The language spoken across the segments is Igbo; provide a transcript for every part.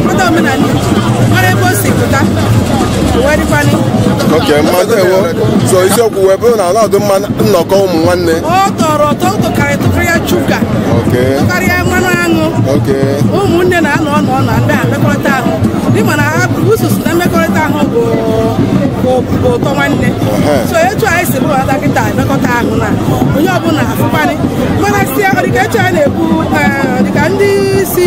Obodo omenala Igbo mara ebe o si pụta wee dịkwanị oke mma ndewo so isiokwu wee bụrụ na ọ na-adụ mma nnọkọ ụmụ nwanne ọ tọrọ ụtọ ụtọ karịa tọkarịa shuga oke tọkarịa mmanụ aṅụ oke ụmụnne na-anọ ọnụ ọnụ ndị a mmekọrịta ahụ ị ma na asụsụ na mmekọrịta ahụ bụ bụ bụ ụtọ nwanne Ehe. so etu anyị si bụrụ ada kịta emekọta ahụ na onye ọbụla afụkwanị mana si dịka etu anyị na-ekwu eh, dịka ndị si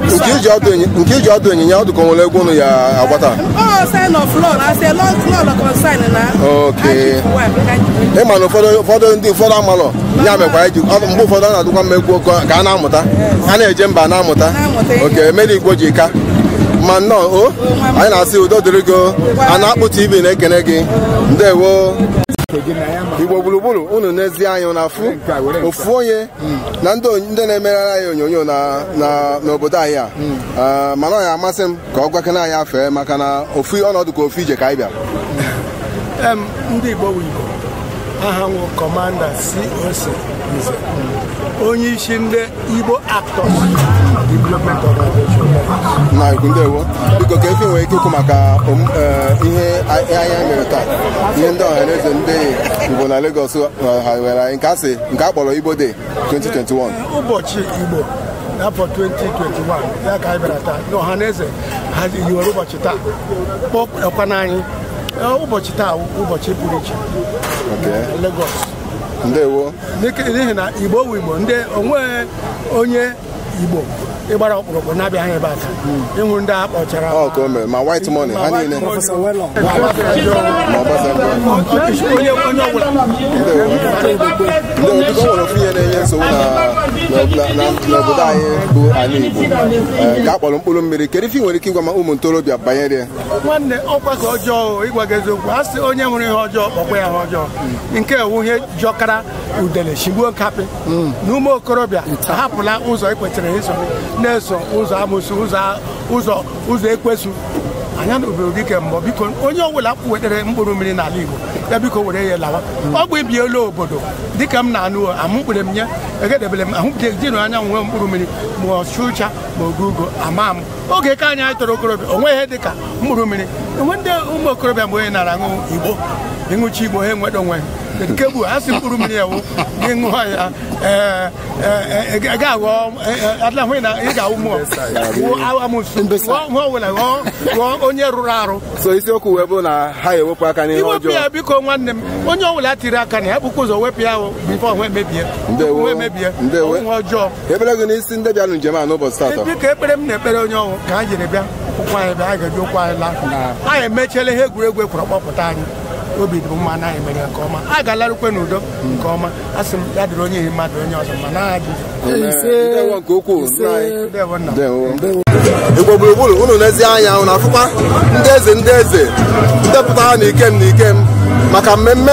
nke iji ọdụ enyi- nke iji ọdụ ịnyịnya ọ dụ ka o nwere egwu unu ya-agba taa Oh, sign of law. I say law, law, law concern na. Okay. ị ma na ụfọdụ ụfọdụ ndị ụfọdụ amalọ ya mekwa anyị ji ọ- mgbe ụfọdụ ọ na-adụkwa mma egwu ka ka a na-amụta a na-eje mba na-amụta Na-amụta ihe. oke mere igbo ji ka mma nnọọ o anyị na-asị udo dịrị gị o. a na-akpụ tv na-ekene gị ndewo igbo gburugburu unu nezi anyị na-afụ ofu onye na ndị onye- ndị na-emeghara anyị onyonyo na- na- n'obodo anyị a Ah, mana ọ ya-amasị m ka ọ gwakene anyị afa ya maka na ofu ọnọdụ ka ofu ije ka anyị bịara Em, ndị Igbo bụ Igbo aha m wụ kọmanda COC Nze onye isi ndị Igbo Actors Development Organization na ikwu ndewo biko kee ife i nwere ike ikwu maka om- eh, ihe a- ihe anyị mere taa ihe ndị ọha na eze ndị Igbo na Lagos ha were anyị nke a sị nke a kpọrọ Igbo Day 2021 ụbọchị Igbo n'afọ 2021 ya ka anyị bịara taa na ọha na eze ha yiwere ụbọchị taa kpọkwa n'anyị ụbọchị taa ụbọchị pụrụ iche Lagos ndewo n'ihi na Igbo wụ Igbo ndị o nweghị onye igbo gbara ọkpụrụkpụ na-abịaghị ebe a taa ị nụ ndị a kpọchara Ọ ka o mere ma white money ha niile ma Obasanjo onye onye ọbụla ndewo biko nwere ofu ihe na-enye nsogbu na na- na- n'obodo anyị bụ ala Igbo Ee, nke a kpọrọ mkpụrụ mmiri kedu ife ị nwere ike ịgwa ma ụmụ ntorobịa banyere ya nwanne ọkwa ka ọjọọ ịgwa gị eziokwu a sị onye hụrụ ihe ọjọọ kpọkwa ya ihe ọjọọ nke a wụ ihe jọkara udele shigbuo nkapị mm. na ụmụ okorobịa ahapụla ụzọ e kwetara iso na-eso ụzọ amụsụ ụzọ ụzọ ekwensu anya na obodo dike mbọ biko onye ọbụla wetere mkpụrụ mmiri n'ala Igbo ya biko were ya lawa o bibiela obodo dịka m na-anụ amụ mkpụrụ mmiri egedebere m ahụ jinu anya nwe mkpụrụ mmiri ma ọchụcha ma ogugo ama m oge ka anyị anyị toro okorobịa o nweghị ihe dị ka mkpụrụ mmiri e nwee ndị ụmụ okorobịa mgbe onye na-aṅụ igbo ị ṅụchaa igbo ha enweta onwe ha nke bụ ha sị mkpụrụ mmiri a wụ gị ṅụọ ya ee, ee, ee, ị ga-aghọ ee, ee, adịla hụ na ị ga-awụ mmụọ wụọ amụsụ Mbesa. ghọọ nwa ọbụla ghọọ ghọọ onye rụrụ arụ so isiokwu wee bụ na ha wepụ aka n'ihe iwepụ ọjọọ ya biko nwanne m onye ọbụla tiri aka na ya burukwa ụzọ wepụ ya ahụ before nwe mebie Ndewo. nwe mebie Ndewo. ọnwụ ọjọọ ekpere gị n'isi ndị bịara njem a n'ụbọchị taata dịka ekpere m na-ekpere onye ọnwụ ka anyị jiri bịa ụkwụ anyị bịa anyị ga-eji ụkwụ anyị laa anyị emechiela ihe egwuregwu ekwuru kpọpụta anyị obi dị mma na anyị mere nke ọma a ga-alarukwa n'udo nke ọma a sị m ya dịrị onye dịrị mmadụ onye ọzọ ma na aha dị ndewo nke ukwuu nna anyị ndewo nna m. ndewo igbo gburugburu unu n'ezi anya unu afụkwa ndị eze ndị eze ndị pụtara na ikem na ikem maka mmemme